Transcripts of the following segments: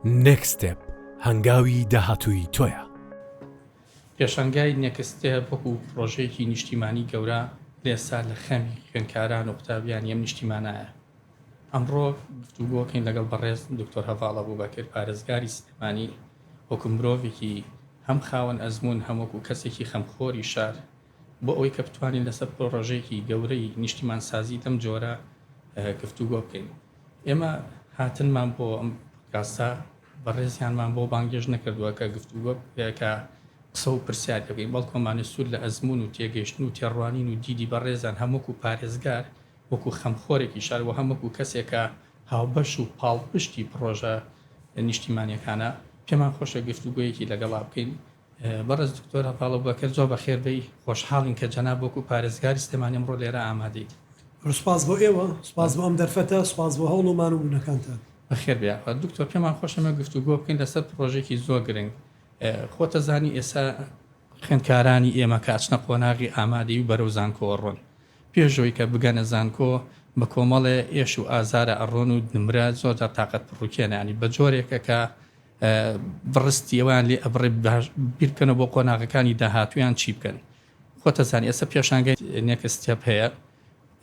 Next Step، هەنگاوی داهاتووی تۆیە. پێشانگای Next Step وەکو پڕۆژەیەکی نیشتیمانی گەورە لەئێستا لە خەمی خوێندکاران و قوتابیانی ئەم نیشتیمانایە. ئەمڕۆ گفتوگۆکەین لەگەڵ بەڕێز دکتۆر هەڤاڵ ئەبوبەکر پارێزگاری سلێمانی وەکو مرۆڤێکی هەم خاوەن ئەزموون هەم وەکو کەسێکی خەمخۆری شار بۆ ئەوەی کە بتوانین لەسەر پرۆژەیەکی گەورەی نیشتیمانسازی لەم جۆرە گفتوگۆ بکەین. ئێمە هاتنمان بۆ ئەم پۆدکاستە بەڕێزیانمان بۆ بانگێشت نەکردووە کە گفتوگۆ کە قسە و پرسیار بکەین، بەڵکو ئەمانە سوود لە ئەزموون و تێگەیشتن و تێڕوانین و دیدی بەڕێزیان هەم وەکو پارێزگار، وەکو خەمخۆرێکی شار و هەم وەکو کەسێک کە هاوبەش و پاڵپشتی پرۆژە نیشتیمانییەکانە، پێمان خۆشە گفتوگۆیەکی لەگەڵا بکەین. بەڕێز دکتۆر هەڤاڵ ئەبوبەکر زۆر بەخێر بێی، خۆشحاڵین کە جەناب وەکو پارێزگاری سلێمانی ئەمڕۆ لێرە ئامادەیت. سوپاس بۆ ئێوە، سوپاس بۆ ئەم دەرفەتە، سوپاس بۆ هەوڵ و مانوبوونەکانتان. بەخێر بێی یاخوا. دکتۆر پێمان خۆشە ئێمە گفتوگۆ بکەین لەسەر پڕۆژێکی زۆر گرنگ. خۆتەزانی ئێستا. خوێندکارانی ئێمە کە ئەچنە قۆناغی ئامادەیی و بەرەو زانکۆوە ڕۆن، پێش ئەوەی کە بگەنە زانکۆ بە کۆمەڵێ ئێش و ئازارە ئەڕۆن و نمرە زۆرجار تاقەت پڕوکێنە یانی بە جۆرێکە کە بڕستی ئەوان لێ ئەبڕێ بیرکەنە بۆ قۆناغەکانی داهاتویان چی بکەن خۆتەزان ئێستا پێشانگە نێکستێپ هەیە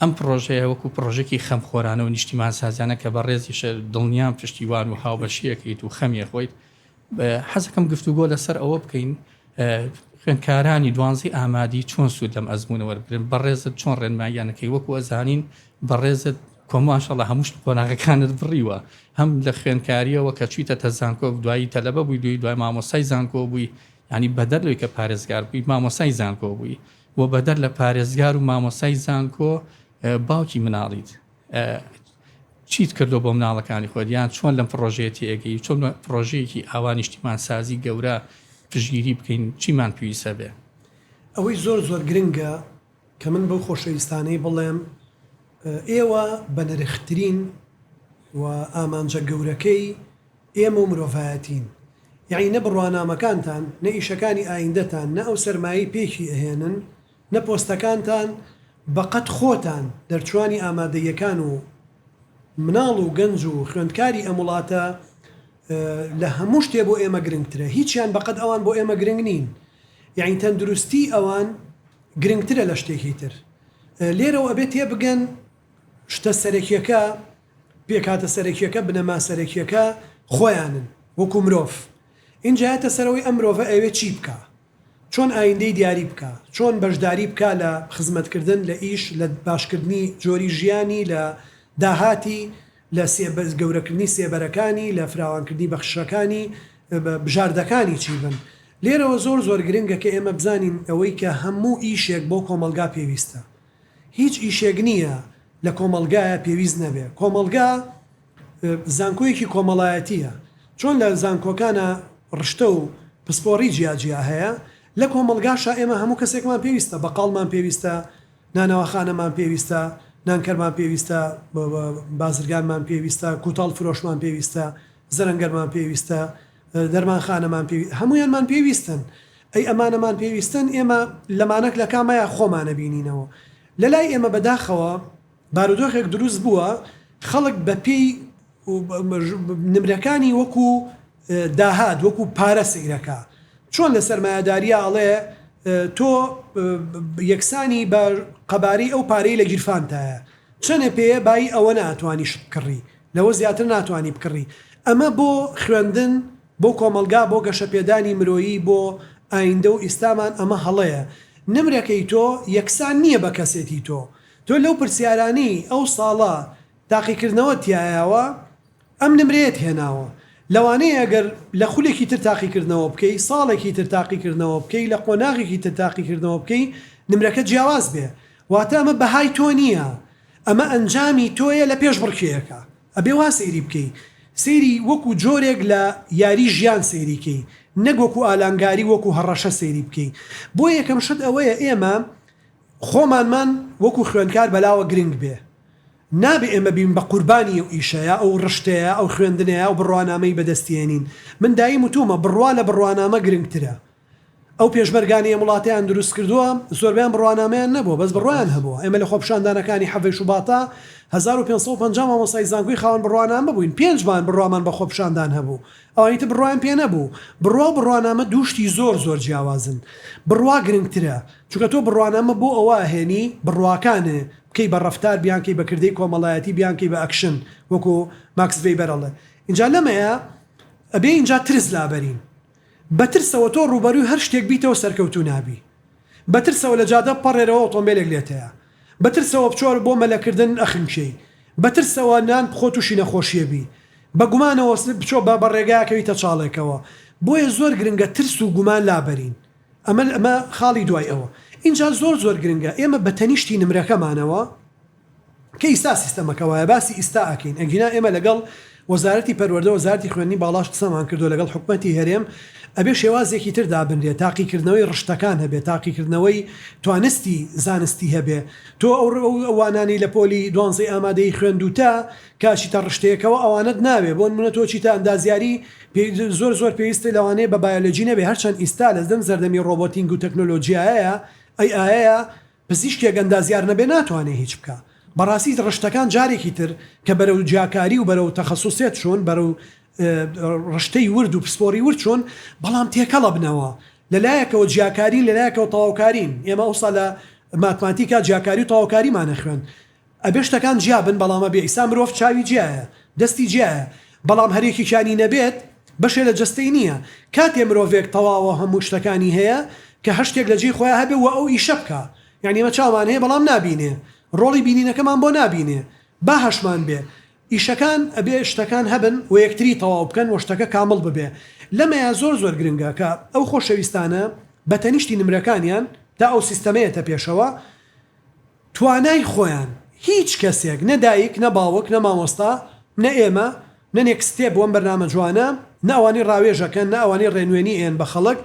ئەم پرۆژەیە وەکو پرۆژێکی خەم خۆرانە و نیشتیمان سازانە کە بە ڕێزیش دڵنیان پشتیوان و هاوبەشیەکەیت و خەمیە خۆیت حەزەکەم گفتوگۆ لەسەر ئەوە بکەین خوێندکارانی دوانزی ئامادی چۆن سوودەم ئەزمونە وەرگن بەڕێزت چۆن ڕێنماییانەکەی وەکو ئەزانین بەڕێزت کۆ ماشەڵا هەموو شت و قۆناغەکانت بڕیوە هەم لە خوێندکاریەوە کە چویتەتە زانکۆ دوایی تەلەبە بووی دوی دوای مامۆستای زانکۆ بووی یانی بەدەر لەوەی کە پارێزگار بووی مامۆستای زانکۆ بووی و بەدەر لە پارێزگار و مامۆستای زانکۆ باوکی مناڵیت چیت کردو بۆ مناڵەکانی خۆت یان چۆن لەم پڕۆژەیە تێگەی چۆن پڕۆژەیەکی ئاوا نیشتیمان سازی گەورە پشگیری بکەین چیمان پێویستە بێ ئەوەی زۆر زۆر گرنگە کە من بەو خۆشەویستانەی بڵێم ئێوە بەنرخترین و ئامانجە گەورەکەی ئێمە و مرۆڤایەتین یەعنی نە بڕوانامەکانتان نە ئیشەکانی ئایندەتان نە ئەو سەرمایەی پێکی ئەهێنن نە پۆستەکانتان بەقەد خۆتان دەرچوانی ئامادەییەکان و مناڵ و گەنج و خوێندکاری ئەم وڵاتە لە هەموو شتێ بۆ ئێمە گرنگترە هیچیان بەقەد ئەوان بۆ ئێمە گرنگ نین یانی تەندروستی ئەوان گرنگترە لە شتێکی تر لێرەوە ئەبێت تێ بگەن شتە سەرەکیەکە پێکاتە سەرەکیەکە بنەما سەرەکیەکە خۆیانن وەکو مرۆڤ ئینجایەتە سەرەوەی ئەم مرۆڤە ئەوێ چی بکە چۆن ئایندەی دیاری بکا، چۆن بەشداری بکا لە خزمەتکردن، لە ئیش، لە باشکردنی جۆری ژیانی، لە داهاتی، لە گەورەکردنی سێبەرەکانی، لە فراوانکردنی بەخششەکانی، بژاردەکانی چی بن. لێرەوە زۆر زۆر گرنگە کە ئێمە بزانین ئەوەی کە هەموو ئیشێک بۆ کۆمەڵگا پێویستە، هیچ ئیشێک نییە لە کۆمەڵگایا پێویست نەبێ. کۆمەڵگا زانکۆیەکی کۆمەڵایەتییە. چۆن لە زانکۆکانا ڕشتە و پسپۆڕی جیا جیا هەیە، لە کۆمەڵگاشا ئێمە هەموو کەسێکمان پێویستە، بەقاڵمان پێویستە، نانەواخانەمان پێویستە، نانکەرمان پێویستە، بازرگانمان پێویستە، کووتاڵ فرۆشمان پێویستە، زەرەنگەرمان پێویستە، دەرمانخانەمان پێوی هەموویانمان پێویستن ئەی ئەمانەمان پێویستن ئێمە لەمانەک لەکامەیە خۆمانە بینینەوە لەلای ئێمە بەداخەوە بارودۆخێک دروست بووە خەڵک بەپێی نمرەکانی وەکو داهات وەکو پارە سەیرەکا چۆن لە سەرمایەداریا ئەڵێ تۆ یەکسانی بە قەبارەی ئەو پارەی لە گیرفانتایە چەنێ پێیە بایی ئەوەنە ئەتوانی شتبکڕی لەوە زیاتر ناتوانی بکڕی. ئەمە بۆ خوێندن، بۆ کۆمەڵگا، بۆ گەشەپێدانی مرۆیی، بۆ ئایندە و ئیستامان ئەمە هەڵەیە. نمرەکەی تۆ یەکسان نییە بە کەسێتی تۆ. تۆ لەو پرسیارانەی ئەو ساڵە تاقیکردنەوەت تیایاوە ئەم نمرەیەت هێناوە. لەوانەیە ئەگەر لە خولێکی تر تاقیکردنەوە بکەی، ساڵێکی تر تاقیکردنەوە بکەی، لە قۆناغێکی تر تاقیکردنەوە بکەی نمرەکە جیاواز بێ. واتە ئەمە بەهای تۆ نییە. ئەمە ئەنجامی تۆیە لە پێشبڕکێیەکە ئەبێ وا سەیری بکەی سەیری وەکو جۆرێک لە یاری ژیان سەیری کەی نەک وەکو ئالانگاری وەکو هەڕەشە سەیری بکەی بۆ یەکەم شت ئەوەیە ئێمە خۆمانمان وەکو خوێندکار بەلاوە گرنگ بێ نابێ ئێمە بین بە قوربانی ئەو ئیشەیە ئەو ڕشتەیە ئەو خوێندنەیە ئەو بڕوانامەی بەدەستیێنین من دایم وتومە بڕوا لە بڕوانامە گرنگترە ئەو پێشمەرگانەی ئەم وڵاتەیان دروست کردووە زۆربەیان بڕوانامەیان نەبووە بەس بڕوایان هەبووە ئێمە لە خۆپیشاندانەکانی حەڤەی شوباتا هەزار و پێنج سەد و پەنجا مامۆستای زانکۆی خاوەن بڕوانامە بووین پێنج مان بڕوامان بە خۆپیشاندان هەبوو ئەوانی تر بڕوایان پێ نەبوو بڕوا و بڕوانامە دوو شتی زۆر زۆر جیاوازن بڕوا گرنگترە چونکە تۆ بڕوانامە بۆ ئەوە ئەهێنی بڕواکانئ بکەی بە ڕەفتار بیان کەی بە کردەی کۆمەڵایەتی بیان کەی بە ئەکشن وەکو ماکس ڤەیبەر ئەڵێ ئینجا لەمەیە ئەبێ ئینجا ترس لابەرین. بە ترسەوە تۆ ڕووبەروی هەر شتێک بیتەوە سەرکەوتوو نابی بە ترسەوە لە جادە بپەڕێرەوە ئۆتۆمبێلێک لێت هەیە بە ترسەوە بچۆ بۆ مەلە کردن ئەخنکێی بە ترسەوە نان بخۆ توشی نەخۆشیە بی بە گومانەوە بچۆ بە بە ڕێگا کەویتە چاڵێکەوە بۆیە زۆر گرنگە ترس و گومان لابەرین ئەمە ئەمە خاڵی دوای ئەوە ئینجا زۆر زۆر گرنگە ئێمە بە تەنیشتی نمرەکەمانەوە کە ئیستا سیستەمەکە وایە باسی ئیستا ئەکەین ئەگینا ئێمە لەگەڵ وەزارەتی پەروەردە وەزارەتی خوێندنی باڵاش قسەمان کردوە لەگەڵ حکومەتی هەرێم ئەبێ شێوازێکی تر دابنرێ تاقیکردنەوەی ڕشتەکان هەبێ تاقیکردنەوەی توانستی زانستی هەبێ تۆ ئەو وانانەی لە پۆلی دوانزەی ئامادەی خوێندوتە کە چیتە ڕشتەیەکەوە ئەوانەت ناوێ بۆ نمونە تۆ چیتە ئەندازیاری زۆر زۆر پێویستە لەوانەیە بە بایۆلۆجی نەبێ هەرچەند ئیستا لەدەم زەردەمی ڕۆبۆتینگ و تەکنۆلۆجیایەیە ئەی ئایە پزیشکێک ئەندازیار نەبێ ناتوانێ هیچ بکا بەڕاستی ڕشتەکان جارێکی تر کە بەرەو جیاکاری و بەرەو تەخەسوسێت چوون بەرەو ڕشتەی ورد و پسپۆری ورد چوون بەڵام تێکەڵەبنەوە لە لایەکەوە جیاکارین لە لایەکەوە تەواوکارین ئێمە ئەوسا لە ماتماتیکا جیاکاری و تەواوکاریمانە خوێند ئەبێ شتەکان جیا بن بەڵام ئەبێ ئیستا مرۆڤ چاوی جیایە دەستی جیایە بەڵام هەر یەکێکیانی نەبێت بەشێ لە جەستەی نیە کاتێ مرۆڤێک تەواوە هەموو شتەکانی هەیە کە هەر شتێک لە جێی خۆیا هەبێ وە ئەو ئیشە بکا یانی ئێمە چاومان هەیە بەڵام نابینێ ڕۆڵی بینینەکەمان بۆ نابینێ با هەشمان بێ ئیشەکان ئەبێ شتەکان هەبن وە یەکتری تەواو بکەن وە شتەکە کامڵ ببێ لەمەیا زۆر زۆر گرنگە کە ئەو خۆشەویستانە بە تەنیشتی نمرەکانیان تا ئەو سیستەمەیەتە پێشەوە توانای خۆیان هیچ کەسێک نە دایک نە باوک نە مامۆستا نە ئێمە نە نێکست ستێپ وەم بەرنامە جوانە نە ئەوانەی ڕاوێژەکەن نە ئەوانەی ڕێنوێنی ئێن بە خەڵک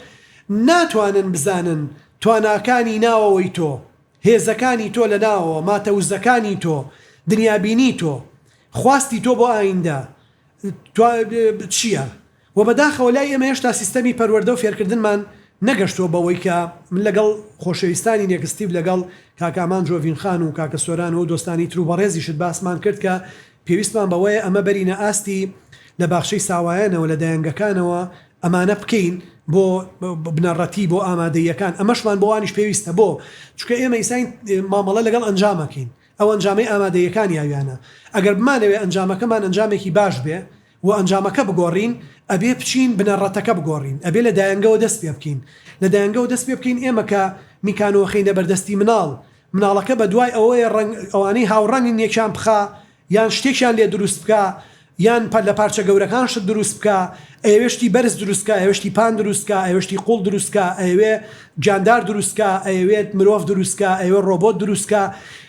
ناتوانن بزانن تواناکانی ناوەوەی تۆ هێزەکانی تۆ لە ناوەوە ماتەوزەکانی تۆ دنیابینی تۆ خواستی تۆ بۆ ئایندە چیە وە بەداخەوە لای ئێمە هێشتا سیستەمی پەروەردە و فێرکردنمان نەگەشتووە بەوەی کە من لەگەڵ خۆشەویستانی نێکستیڤ و لەگەڵ کاکە ئامان جۆڤین خان و کاکە سۆران و دۆستانی ترو بەڕێزیشت باسمان کرد کە پێویستمان بەوەیە ئەمە بەرینە ئاستی لە باخچەی ساوایانەوە لە دایەنگەکانەوە ئەمانە بکەین بۆ بنەڕەتی بۆ ئامادەییەکان ئەمەشمان بۆوانیش پێویستە بۆ چونکە ئێمە ئیساین مامەڵە لەگەڵ ئەنجام ئەکەین ئەو ئەنجامەی ئامادەییەکانی ئەویانە ئەگەر بمانەوێ ئەنجامەکەمان ئەنجامێکی باش بێ و ئەنجامەکە بگۆڕین ئەبێ بچین بنەڕەتەکە بگۆڕین ئەبێ لە دایەنگەوە دەست پێ بکەین لە دایەنگەوە دەست پێ بکەین ئێمە کە میکانۆ خەینە بەردەستی مناڵ مناڵەکە بە دوای ئەوەیە ڕەنگ ئەوانەی هاوڕەنگن یەکیان بخا یان شتێکیان لێ دروست بکا یان پە لە پارچە گەورەکان شت دروست بکا ئەیەوێ شتی بەرز دروست کا ئەیەوێ شتی پان دروست کا ئەیەوێ شتی قوڵ دروست کا ئەیەوێ گیاندار دروست کا ئەیەوێت مرۆڤ دروست کا ئەیەوێ ڕۆبۆت دروست کا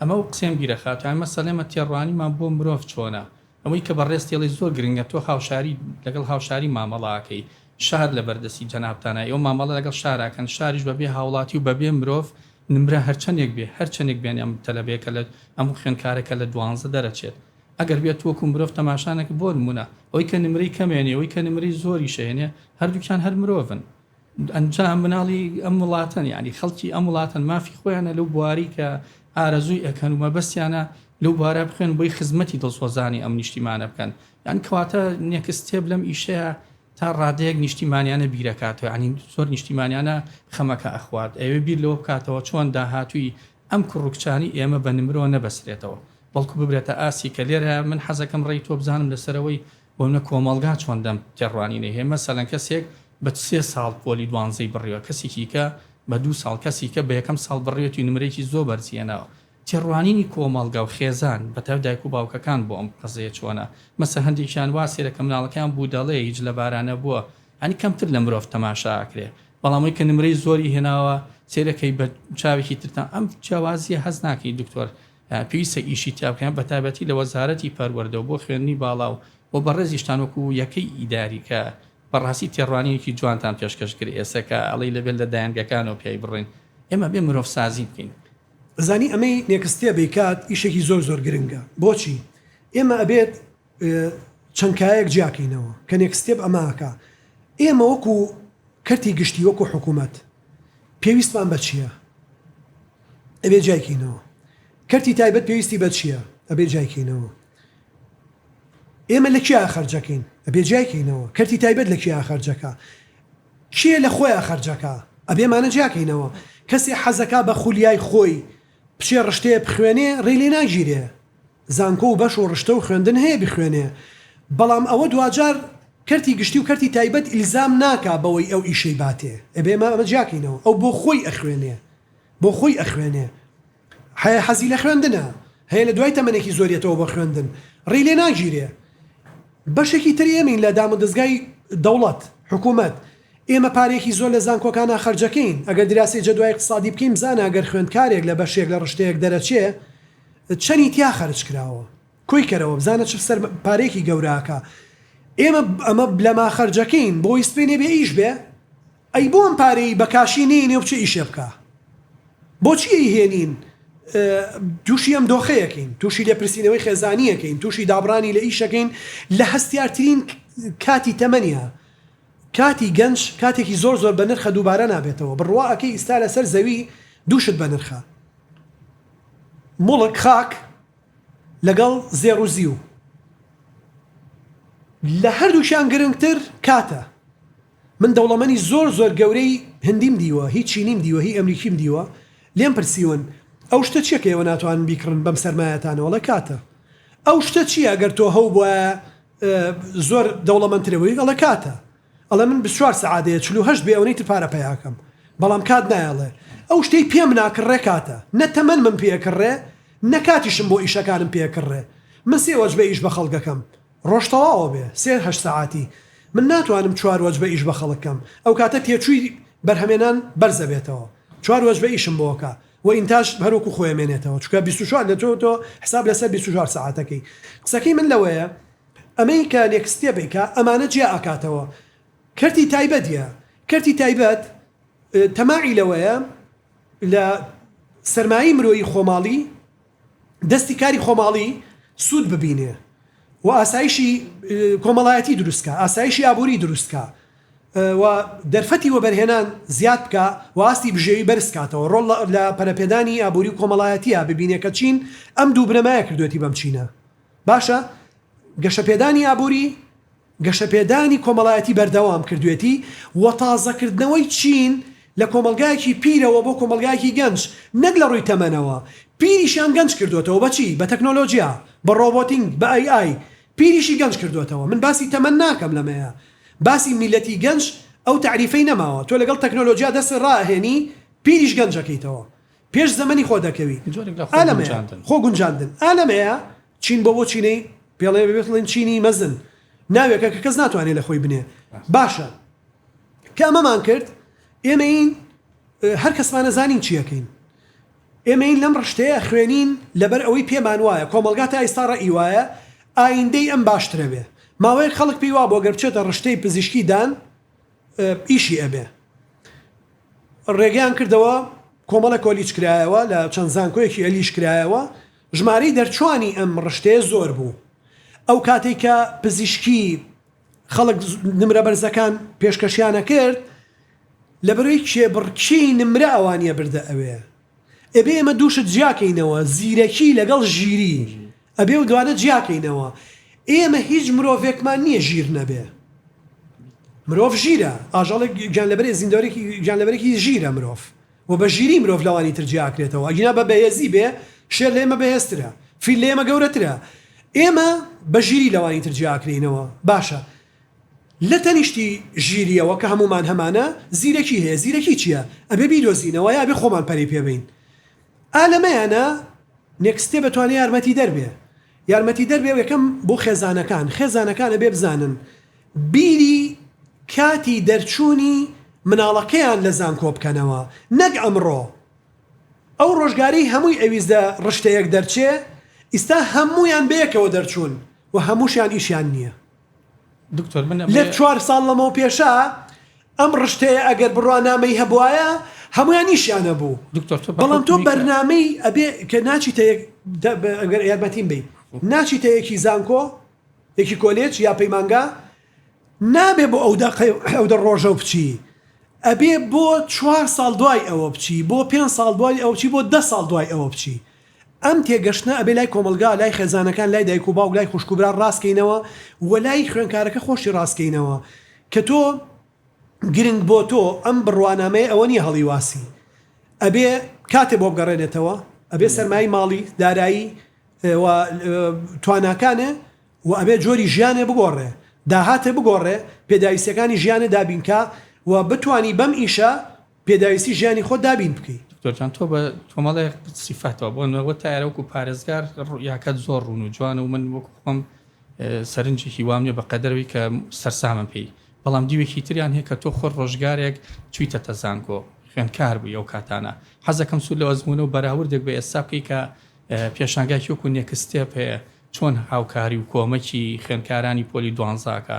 ئەمە و قسەم گیرە خاتوو ئەمە سەلێمە تێڕوانیمان بۆ مرۆڤ چۆنە ئەوەی کە بەڕێز تێڵێی زۆر گرنگە تۆ هاوشاری لەگەڵ هاوشاری مامەڵە ئەکەی شار لەبەر دەستی جەنابتانە ئێوە مامەڵە لەگەڵ شار ئەکەن شاریش بەبێ هاوڵاتی و بەبێ مرۆڤ نمرە هەرچەنێک بێ هەرچەنێک بێن ئەم تەلەبەیە کە لە ئەم خوێندکارە کە لە دوانزە دەرەچێت ئەگەر بێت وەکو مرۆڤ تەماشا نەکە بۆ نمونە ئەوەی کە نمرەی کەمێنێ ئەوەی کە نمرەی زۆریش هێنێ هەردووکیان هەر مرۆڤن ئەنجا مناڵی ئەم وڵاتەن یعنی خەڵکی ئەم وڵاتەن مافی خۆیانە لەو بواری کە ئارەزووی ئەکەن و مەبەستیانە لەو بوارە بخوێن بۆی خزمەتی دڵسۆزانی ئەم نیشتیمانە بکەن یان کەواتە نێکستێب لەم ئیشەیە تا ڕادەیەک نیشتیمانیانە بیرەکاتەوە ینی زۆر نیشتیمانیانە خەمەکە ئەخوات ئەوێ بیر لەوە بکاتەوە چۆن داهاتووی ئەم کوڕکچانی ئێمە بە نمرۆ نەبەسرێتەوە بەڵکو ببرێتە ئاسی کە لێرە من حەزەکەم ڕێی تۆ بزانم لەسەرەوەی بۆ نە کۆمەڵگا چۆن دەم تێڕوانینەی هەیە مەسەلەن کەسێک بە سێ ساڵ پۆلی دوانزەی بڕیوە کەسێکی کە بە دوو ساڵ کەسی کە بە یەکەم ساڵ بڕیوەتی نمرەیەکی زۆر بەرزی هێناوە تێڕوانینی کۆمەڵگا و خێزان بە تایبەت دایک و باوکەکان بۆ ئەم قەزەیە چۆنە مەسە هەندێکیان وا سەیرە کە مناڵەکەیان بوودەڵەیە هیچ لە بارا نەبووە یانی کەمتر لە مرۆڤ تەماشا ئەکرێ بەڵام ئەوی کە نمرەی زۆری هێناوە سەیرەکەی بە چاوێکی ترتان ئەم جیاوازیە هەست ناکەی دکتۆر پێویستە ئیشی تیا بکەن بە تایبەتی لە وەزارەتی پەروەردەو بۆ خوێندنی باڵا و بۆ بەڕێزیشتان وەکو یەکەی ئیداری کە بەڕاستی تێڕوانینێکی جوانتان پێشکەش کرد ئێسە کە ئەڵێی لەبێت لە دایەنگەکانەوە پیای بڕۆین ئێمە بێ مرۆڤ سازی بکەین. ئەزانی ئەمەی نێکستێبی کات ئیشێکی زۆر زۆر گرنگە بۆچی ئێمە ئەبێت چەند کایەک جیا کەینەوە کە نێکست ستێپ ئەمە ئەکا ئێمە وەکو کەرتی گشتی وەکو حکوومەت پێویستمان بە چییە ئەبێ جای کەینەوە کەرتی تایبەت پێویستی بە چییە ئەبێ جای کەینەوە ئێمە لە کیا خەرجەکەین ئەبێ جای کەینەوە کەرتی تایبەت لە کیا خەرجەکە کێ لە خۆیان خەرجەکە ئەبێمانە جیاکەینەوە کەسێ حەزەکە بە خولیای خۆی بچێ ڕشتەیە بخوێنێ ڕێ لێ ناگیرێ زانکۆ و بەش و ڕشتە و خوێندن هەیە بخوێنێ بەڵام ئەوە دواجار کەرتی گشتی و کەرتی تایبەت ئیلزام ناکا بەوەی ئەو ئیشەی باتێ ئەبێ ئێمە ئەمە جیاکەینەوە ئەو بۆ خۆی ئەخوێنێ بۆ خۆی ئەخوێنێ هەیە حەزی لە خوێندنە هەیە لە دوای تەمەنێکی زۆر یەتەوە بۆ خوێندن ڕێی لێ ناگیرێ بەشێکی تر ئێمەین لە دامودەزگای دەوڵەت حکوومەت ئێمە پارێکی زۆر لە زانکۆکانە خەرجەکەین ئەگەر دراسی جەدوای اقتصادی بکەین بزانە ئەگەر خوێندکارێک لە بەشێک لە ڕشتەیەک دەرەچێ چەنی تیا خەرج کراوە کۆی کەرەوە بزانە چ سەر پارەیەکی گەوراکە ئێمە ئەمە بلەما خەرجەکەین بۆی سپێنێ بێ ئیش بێ ئەی بۆم پارەی بە کاشی نینێ و بچێ ئیشێ بکە بۆچی ئەی هێنین تووشی ئەم دۆخەیەکەین تووشی لێپرسینەوەی خێزانیەکەین تووشی دابڕانی لە ئیشەکەین لە هەستیارترین کاتی تەمەنیا کاتی گەنج کاتێکی زۆر زۆر بە نرخە دووبارە نابێتەوە بڕواکەی ئیستا لەسەر زەوی دووشت بە نرخە موڵک خاک لەگەڵ زێڕ و زیو لە هەردووکیان گرنگتر کاتە من دەوڵەمەنی زۆر زۆر گەورەی هندیم دیوە هی چینیم دیوە هی ئەمریکیم دیوە لێم پرسیون ئەو شتە چیە کە ئێوە ناتوانن بیکڕن بەم سەرمایەتانە وەڵێ کاتە ئەو شتە چیە گەر تۆ هەوبوایە زۆر دەوڵەمەنترەبوی ئەڵێ کاتە. ئەڵێ من بیست چوار سەعاتەیە چل و هەشت بێ ئەونەی تر پارە پەیاکەم بەڵام کات نایە ئەڵێ ئەو شتەی پێم ناکڕێ کاتە نە تەمەنمم پێ ئەکڕێ نە کاتیشم بۆ ئیشەکانم پێ ئەکڕێ من سێ وەجبە ئیش بە خەڵک ئەکەم ڕۆژ تەواوە بێ سێ هەشت سەعاتی من ناتوانم چوار وەجبە ئیش بە خەڵک کەم ئەو کاتە تێچووی بەرهەمێنان بەرز ئەبێتەوە چوار وەجبە ئیشم بۆ ئەکا و ئینتاج هەر وەکو خۆی ئەمێنێتەوە چونکە بیست و چوار لە تۆ تۆ حساب لەسەر بیست و چوار سەعاتەکەی قسەکەی من لەوەیە ئەمەی کە نێکستێپ ئەیکا ئەمانە جیا ئەکاتەوە کەرتی تایبەت یە کەرتی تایبەت تەماعی لەوەیە لە سەرمایەی مرۆیی خۆماڵی دەستی کاری خۆماڵی سود ببینێ و ئاسایشی کۆمەڵایەتی دروست کا ئاسایشی ئابوری دروست کا و دەرفەتی وەبەرهێنان زیاد بکا و ئاستی بژێوی بەرز کاتەوە ڕۆڵ لە پەرەپێدانی ئابوری و کۆمەڵایەتیا ببینێ کە چین ئەم دوو بنەمایە کردوەتی بەم چینە باشە گەشەپێدانی ئابووری، گەشەپێدانی کۆمەڵایەتی بەردەوام کردوێتی و تازەکردنەوەی چین لە کۆمەڵگایەکی پیرەوە بۆ کۆمەڵگایەکی گەنج، نەک لە ڕووی تەمەنەوە، پیریشیان گەنج کردۆتەوە بە چی؟ بە تەکنۆلۆجیا، بە ڕۆبۆتینگ، بە ئەی ئای، پیریشی گەنج کردۆتەوە، من باسی تەمەن ناکەم لەمەیە، باسی میللەتی گەنج ئەو تەعریفەی نەماوە، تۆ لەگەڵ تەکنۆلۆجیا دەست ڕائەهێنی پیریش گەنج ئەکەیتەوە، پێش زەمەنی خۆ دەکەوی جۆرێک لە خۆ گونجاندن خۆ گونجاندن ئا لەمەیە چین بۆ بۆ چینەی پێڵێ بێت بڵێن چینی مەزن ناوێکە کە کەس ناتوانێت لە خۆی بنێ باشە کە ئەمەمان کرد ئێمەین هەر کەسمانە زانین چیەکەین ئێمەین لەم ڕشتەیە خوێنین لەبەر ئەوەی پێمان وایە کۆمەلگا تا ئیستا ڕە ئیوایە ئایندەی ئەم باشترەوێ ماوەیەک خەڵک پێی وا بۆ گەر بچێتە ڕشتەی پزیشکی دان ئیشی ئەبێ. ڕێگەیان کردەوە کۆمەڵە کۆلیچ کرایەوە لە چەند زانکۆیەکی الیش کرایەوە ژمارەی دەرچوانی ئەم ڕشتەیە زۆر بوو ئەو کاتەی کە پزیشکی خەڵک نمرە بەرزەکان پێشکەشیانەکرد لەبەرەوەی کێبڕکێی نمرە ئەوانیە بردە ئەوێ ئەبێ ئێمە دوو شت جیاکەینەوە، زیرەکی لەگەڵ ژیری، ئەبێ ئەو دوانە جیاکەینەوە. ئێمە هیچ مرۆڤێکمان نییە ژیر نەبێ. مرۆڤ ژیرە، ئاژەڵێک گیانلەبەرێ زیندەوەرێکی گیانلەبەرێکی ژیرە مرۆڤ و بە ژیری مرۆڤ لەوانی تر جیاکرێتەوە، ئەگینا بە بەهێزی بێ شێر لە ئێمە بەهێزترە، فیل لە ئێمە گەورەترە. ئێمە بە ژیری لەوانی تر جیاکرێینەوە. باشە لە تەنیشتی ژیریەوە کە هەموومان هەمانە زیرەکی هەیە زیرەکی چیە ئەبێ بیدۆزینەوە یا ئەبێ خۆمان پەرەی پێ بەین ئا لەمەیانە نێکست ستێپ ئەتوانێ یارمەتی دەر بێ یارمەتی دەر بێ یەکەم بۆ خێزانەکان خێزانەکان ئەبێ بزانن بیری کاتی دەرچوونی مناڵەکەیان لە زانکۆ بکەنەوە نەک ئەمڕۆ ئەو ڕۆژگارەی هەمووی ئەویست لە ڕشتەیەک دەرچێ ئیستا هەموویان بەیەکەوە دەرچوون و هەمووشیان ئیشیان نیە. دکتۆر من لە چوار ساڵ لەمەو پێشە ئەم ڕشتەیە ئەگەر بڕوانامەی هەبوایە هەمویان ئیشیان هەبوو دکتۆر تۆ بەڵام تۆ بەرنامەی ئەبێ کە ناچیتە یەک دە- بە- ئەگەر یارمەتیم بی ناچیتە یەکی زانکۆ یەکی کۆلێج یا پەیمانگا نابێ بۆ ئەو دەقەی ئەو دە ڕۆژە و بچی ئەبێ بۆ چوار ساڵ دوای ئەوە بچی بۆ پێنج ساڵ دوای ئەو بچی بۆ دە ساڵ دوای ئەوە بچی ئەم تێگەشتنە ئەبێ لای کۆمەڵگا، لای خێزانەکان، لای دایک و باوک، لای خوشک و برا ڕاست کەینەوە و لای خوێنکارەکە خۆشی ڕاست کەینەوە کە تۆ گرنگ بۆ تۆ ئەم بڕوانامەیە ئەوە نیە هەڵیواسی ئەبێ کاتێ بۆ بگەڕێنێتەوە ئەبێ سەرمای ماڵی، دارایی و تواناکانێ و ئەبێ جۆری ژیانێ بگۆڕێ داهاتێ بگۆڕێ پێداویستیەکانی ژیانێ دابینکا و بتوانی بەم ئیشە. پێداویستی ژیانی خۆت دابین بکەی. دکتۆر جان تۆ بە کۆمەڵێ سیفەتەوە بۆ نەوە تایەرە وەکو پارێزگار ڕوئیاکەت زۆر ڕوون و جوانە و من وەکو خۆم سەرنجێکی وام نیە بە قەدەرەوەی کە سەرسامم پێی بەڵام دیوێکی تریان هەیە کە تۆ خۆر ڕۆژگارێک چویتە تەزانکۆ خوێندکار بووی ئەو کاتانە حەزەکەم سوود لە ئەزمونە و بەراوردێک بە ئێستا بکەی کە پێشانگاکی وەکو نێکستێپ هەیە چۆن هاوکاری و کۆمەکی خوێندکارانی پۆلی دوانزاکە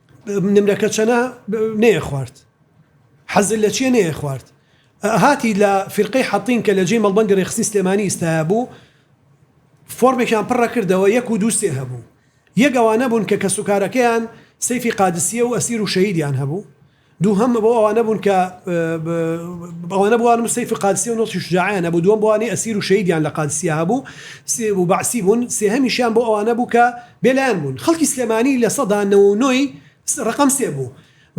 نمرەکە چەنە نەیە خوارد حەزل لە چیە نەیە خوارد هاتی لە فرقەی حەتین کە لە جێی مەڵبەندی ڕێخستی سلێمانی ئیستایا بوو فۆرمێکیان پڕە کردەوە یەک و دوو سێ هەبوو یەگەوانە بوون کە کەسوکارەکەیان سەیفی قادسیە و ئەسیر و شەهیدیان هەبوو دووهەم بۆ ئەوانە بوون کە ئەوانە بووان و سەیف قادسیە و نوڵکی شوجاعیان هەبوو، دووەم بۆئەوانەی ئەسیر و شەهیدیان لە قادسیە هەبوو و بەعسی بوون، سێهەمیشیان بۆ ئەوانە بوو کە بێلایەن بوون. خەڵکی سلێمانی لە سەدا نەوە و نۆی ڕەقەم سێ بوو.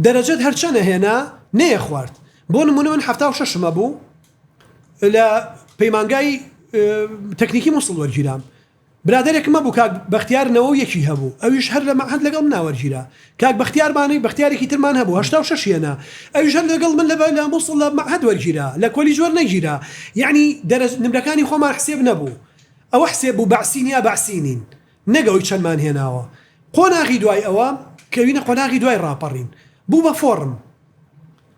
دەرەجەت هەر چەنە هێنا نەیەخوارد. بۆ نموونە من حەفتا و شەشم هەبوو لە پەیمانگای تەکنیکی موسڵ وەرگیرام. برادەرێکم هەبوو کاک بەختیار نەوە و یەکی هەبوو ئەویش هەر لە مەعهەد لەگەڵ منا وەرگیرا کاک بەختیارمانی بەختیارێکی ترمان هەبوو هەشتا و شەش هێنا ئەویش هەر لەگەڵ من لە لە موسڵ لە مەعهەد وەرگیرا لە کۆلیج وەرنەگیرا یەعنی دەرەج نمرەکانی خۆمان حسێب نەبوو ئەوە حسێب بوو بەعسین یا بەعسینین نەک ئەوی چەندمان هێناوە قۆناغی دوای ئەوە کەوینە قۆناغی دوای ڕاپەڕین بوو بە فۆڕم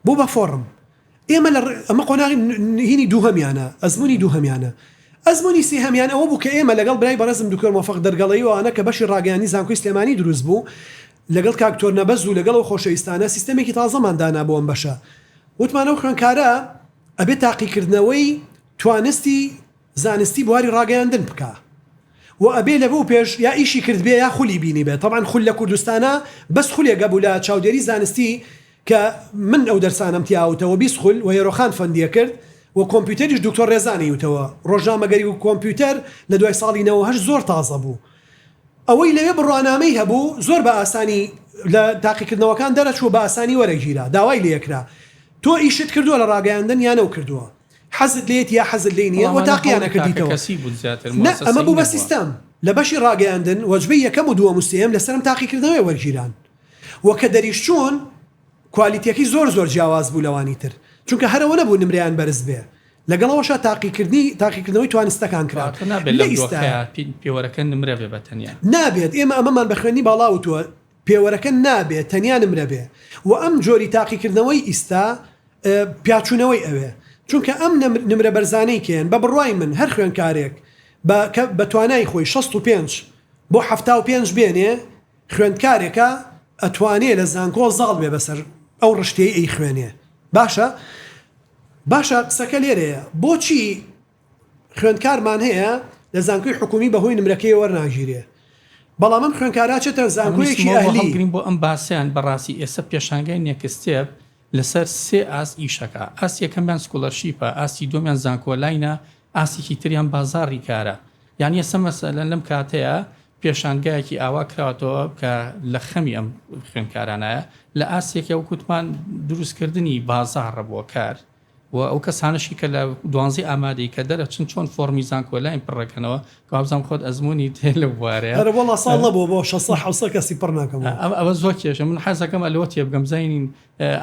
بوو بە فۆڕم ئێمە لە ئەمە قۆناغی نهینی دووهەمیانە ئەزمونی دووهەمیانە ئەزمونی سێهەمیان ئەوە بوو کە ئێمە لەگەڵ برای بەڕێزم دکتۆر مۆفەق دەرگەڵەیی و ئەوانە کە بەشی ڕاگەیاندنی زانکۆی سلێمانی دروست بوو لەگەڵ کاک تۆر نەبەز و لەگەڵ ئەو خۆشەویستانە سیستەمێکی تازەمان دانا بۆ ئەم بەشە وتمان ئەو خوێنکارە ئەبێ تاقیکردنەوەی توانستی زانستی بواری ڕاگەیاندن بکە و ئەبێ لە بۆ پێش یا ئیشی کردبێ یا خولی بینی بێت طبعا خول لە کوردستانە بەس خولێک گەبوو لە چاودێری زانستی کە من ئەو دەرسانەم تیا وتە وە بیست خول وە یەرۆخان فەندیە کرد وە کۆمپیوتەریش دوکتۆر رێزان ی وتەوە رۆژنامەگەری وە کۆمپیوتەر لە دوای ساڵی نەوەو هەشت زۆر تازە بوو ئەوەی لەوێ بڕوانامەی هەبوو زۆر بە ئاسانی لە تاقیکردنەوەکان دەرەچوو بە ئاسانی وەرەگیرا داوای لێکرا تۆ ئیشت کردووە لە راگەیاندن یا نەو کردووە حەزت لێیەتی یا حەزت لێی نیە وە تاقیان نەکردیتەوە نە ئەمە بوو بە سیستەم لە بەشی راگەیاندن وەجبەی یەکەم و دووەم و سێیەم لە سەرم تاقیکردنەوەی وەرگیران. وە کە دەریشچوون کوالیتیەکەی زۆر زۆر جیاواز بوو لەوانی تر چونکە هەر ئەوە نەبوو نمرەیان بەرز بێ لەگەڵ ئەوەشا تاقیکردنی تاقیکردنەوەی توانستەکان کرا واتا نابێت لەم لە ئیستا دۆخەیا پی- پێوەرەکە نمرە بێ بە تەنیا نابێت ئێمە ئەمەمان بە خوێندنی باڵا وتووە پێوەرەکە نابێت تەنیا نمرە بێ و ئەم جۆری تاقیکردنەوەی ئیستا اه، پیاچوونەوەی ئەوێ چونکە ئەم نمر- نمرە بەرزانەی کێن بە بڕوای من هەر خوێندکارێک بە کە بە توانای خۆی 65 بۆ 75 بێنێ خوێندکارێکە ئەتوانێ لە زانکۆ زاڵ بێ بەسەر ئەو ڕشتەی ئەیخوێنێ باشە باشە قسەکە لێرەیە بۆچی خوێندکارمان هەیە لە زانکۆی حکومی بەهۆی نمرەکەی وەرناگیرێ بەڵام ئەم خوێنکاراچێتە زانکۆیەکی ئەهلیگرین بۆ ئەم باسییان بەڕاستی ئێستا پێشانگای نێکستێپ لەسەر سێ ئاست ئیشەکە ئاست یەکەمیان سکولەرشیپە ئاستی دومیان زانکۆلاینە ئاسیکی تریان بازاڕی کارە یان یەسە مەسەلەن لەم کاتەیە پێشانگایەکی ئاوا کراوەتەوە کە لە خەمی ئەم خوێندکارانایە لە ئاستێکە وەکو وتمان دروستکردنی بازاڕە بۆ کار و ئەو کەسانەشی کە لە دوانزی ئامادەی کە دەرەچن چۆن فۆڕمی زانکۆلاین پڕەکەنەوە کابزانام خۆت ئەزمموی تێ لە بوارەیە هەرە بەڵا ساڵ لە بۆ بۆ شەسە حوسە کەسی پڕ ناکەم ئەوە زۆر کێشە من حەزەکەم ئەلۆ تێ بگەم زینین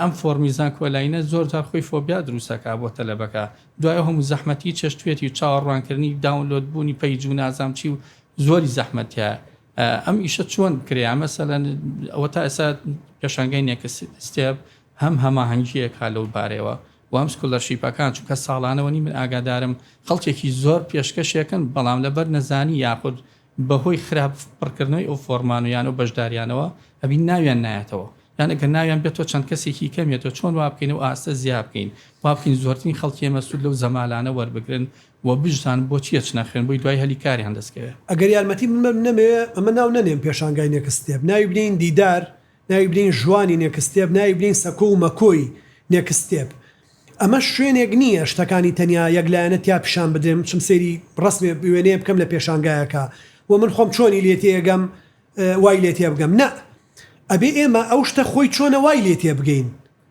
ئەم فۆرمی زانکۆلاینە زۆر جار خۆی فۆبیا دروستەکە بۆ تەلەبەکە دوای هەموو زەحمەتی چێشتێتی و چاوەڕوانکردنی داونلۆد بوونی پەیج و نازام چی و زۆری زەحمەت تیایە ئەم ئیشە چۆن بکرێ مەسەلەن ئەوە تا ئێستا پێشانگەی نێکس ستێپ هەم هەماهەنگیەک ها لەو بارەوە وام سکولەرشیپەکان چونکە ساڵانەوە نی من ئاگادارم خەڵکێکی زۆر پێشکەشێکن بەڵام لەبەر نەزانی یاخود بەهۆی خراپ پڕکردنەوەی ئەو فۆرمان و یانە و بەشداریانەوە ئەبین ناویان نایەتەوە یان ئەگەر ناویان بێت تۆ چەند کەسێکی کەمێتەوە چۆن وا بکەین و ئاستە زیاب بکەین وا بکەین زۆرترین خەڵکی ئێمە سوود لەو زەمالانە وەربگرن وە بشزانن بۆچی ئەچنە خوێن بۆی دوای هەلی کاریان دەسکەوێ. ئەگەر یارمەتی من بەم نەمەوێ ئەمە ناو نەنێم پێشانگای نێکست ستێپ ناوی بنێین دیدار ناوی بنێین ژوانی نێکست ستێپ ناوی بنێین سەکۆ و مەکۆی نێکست ستێپ ئەمە شوێنێک نییە شتەکانی تەنیا یەک لایەنە تیا پیشان بدرێن بچم سەیری ڕەسمێ وێنەیە بکەم لە پێشانگایەکە و من خۆم چۆنی لێ تێگەم وای لێ تێبگەم نا ئەبێ ئێمە ئەو شتە خۆی چۆنە وای لێ تێبگەین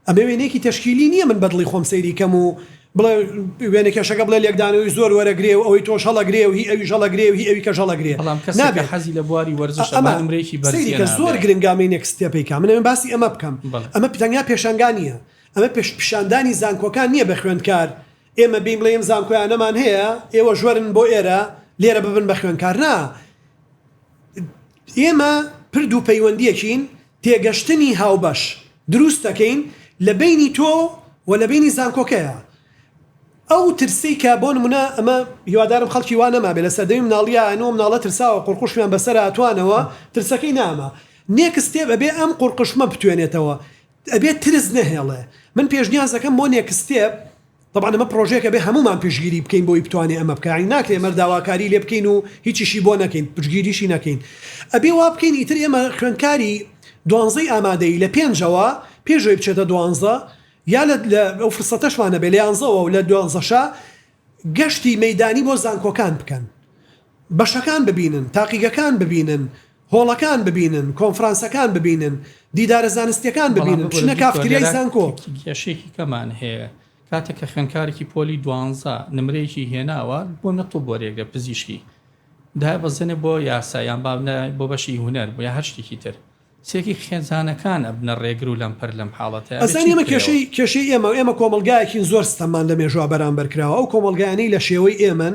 ئەمە وێنەیەکی تەشکیلی نییە من بەدڵی خۆم سەیری کەم و بڵێ وێنەکێشەکە بڵێ لێکدانەوەی زۆر وەرەگرێ و ئەوەی تۆش هەڵەگرێ و هی ئەویش هەڵەگرێ و هی ئەویکەش هەڵەگرێ بەڵام کەسێک کە حەزی لە بواری وەرزشە با نمرەیەکی بەرز هێنابێ. ئەمە سەیریکە زۆر گرنگە ئەمەی نێکست ستێپەی کا من ئەمە باسی ئەمە بکەم ئەمە تەنیا پێشەنگا نییە ئەمە پیشاندانی زانکۆکان نییە بە خوێندکار ئێمە بێین بڵێین ئەم زانکۆیانەمان هەیە ئێوەش وەرن بۆ ئێرە لێرە ببن بە خوێندکار نا ئێمە پرد و پەیوەندیەکین تێگەشتنی هاوبەش دروست دەکەین لە بەینی تۆ و لە بەینی زانکۆکەیا ئەو ترسەی کە بۆ نمونە ئەمە هیوادارم خەڵکی وا نەمابێ لە سەردەمی مناڵیا ئەنوە مناڵە ترساوە قورقوشمیان بەسەرا توانەوە ترسەکەی ناما نێکس ستێپ ئەبێ ئەم قورقشمە بتوێنێتەوە ئەبێ ترس نەهێڵێ من پێشنیازەکەم بۆ نێکس ستێپ تەبعەن ئەمە پرۆژەیەک ئەبێ هەموومان پشتگیری بکەین بۆی بتوانێ ئەمە بکا یانی ناکرێ ئێمە داواکاری لێ بکەین و هیچیشی بۆ نەکەین پشتگیریشی نەکەین ئەبێ وا بکەین ئیتر ئێمە خوێندکاری دوانزەی ئامادەی لە پێنجەوە پێشەوەی بچێتە دوانزە یا لە ئەو فرسەتەشمانە بێ لە یانزەوە و لە دوانزەشە گەشتی مەدانی بۆ زانکۆکان بکەن بەشەکان ببینن، تاقیگەکان ببینن، هۆڵەکان ببینن، کۆنفرانسەکان ببینن، دیدارە زانستییەکان ببینن، بچنە کافتریای زانکۆ. کێشەیەکی کەمان هەیە، کاتێک کە خوێندکارێکی پۆلی دوانزە نمرەیەکی هێناوە، بۆ نەتڵ وەرێگرە پزیشکی دابەزێنێ بۆ یاسا، یان با بنێ بۆ بەشی هونەر، بۆ یا هەر شتێکی تر. چێکی خێزانەکان ئەبنە ڕێگر و لەمپەر لەم حاڵەتە ئەبێ ئەزانی چی ئەمە بکرێەوە؟ کێشەی کێشەی ئێمە ئێمە کۆمەڵگایەکین زۆر ستەممان لە مێژووا بەرامبەر کراوە ئەو کۆمەڵگایانەی لە شێوەی ئێمەن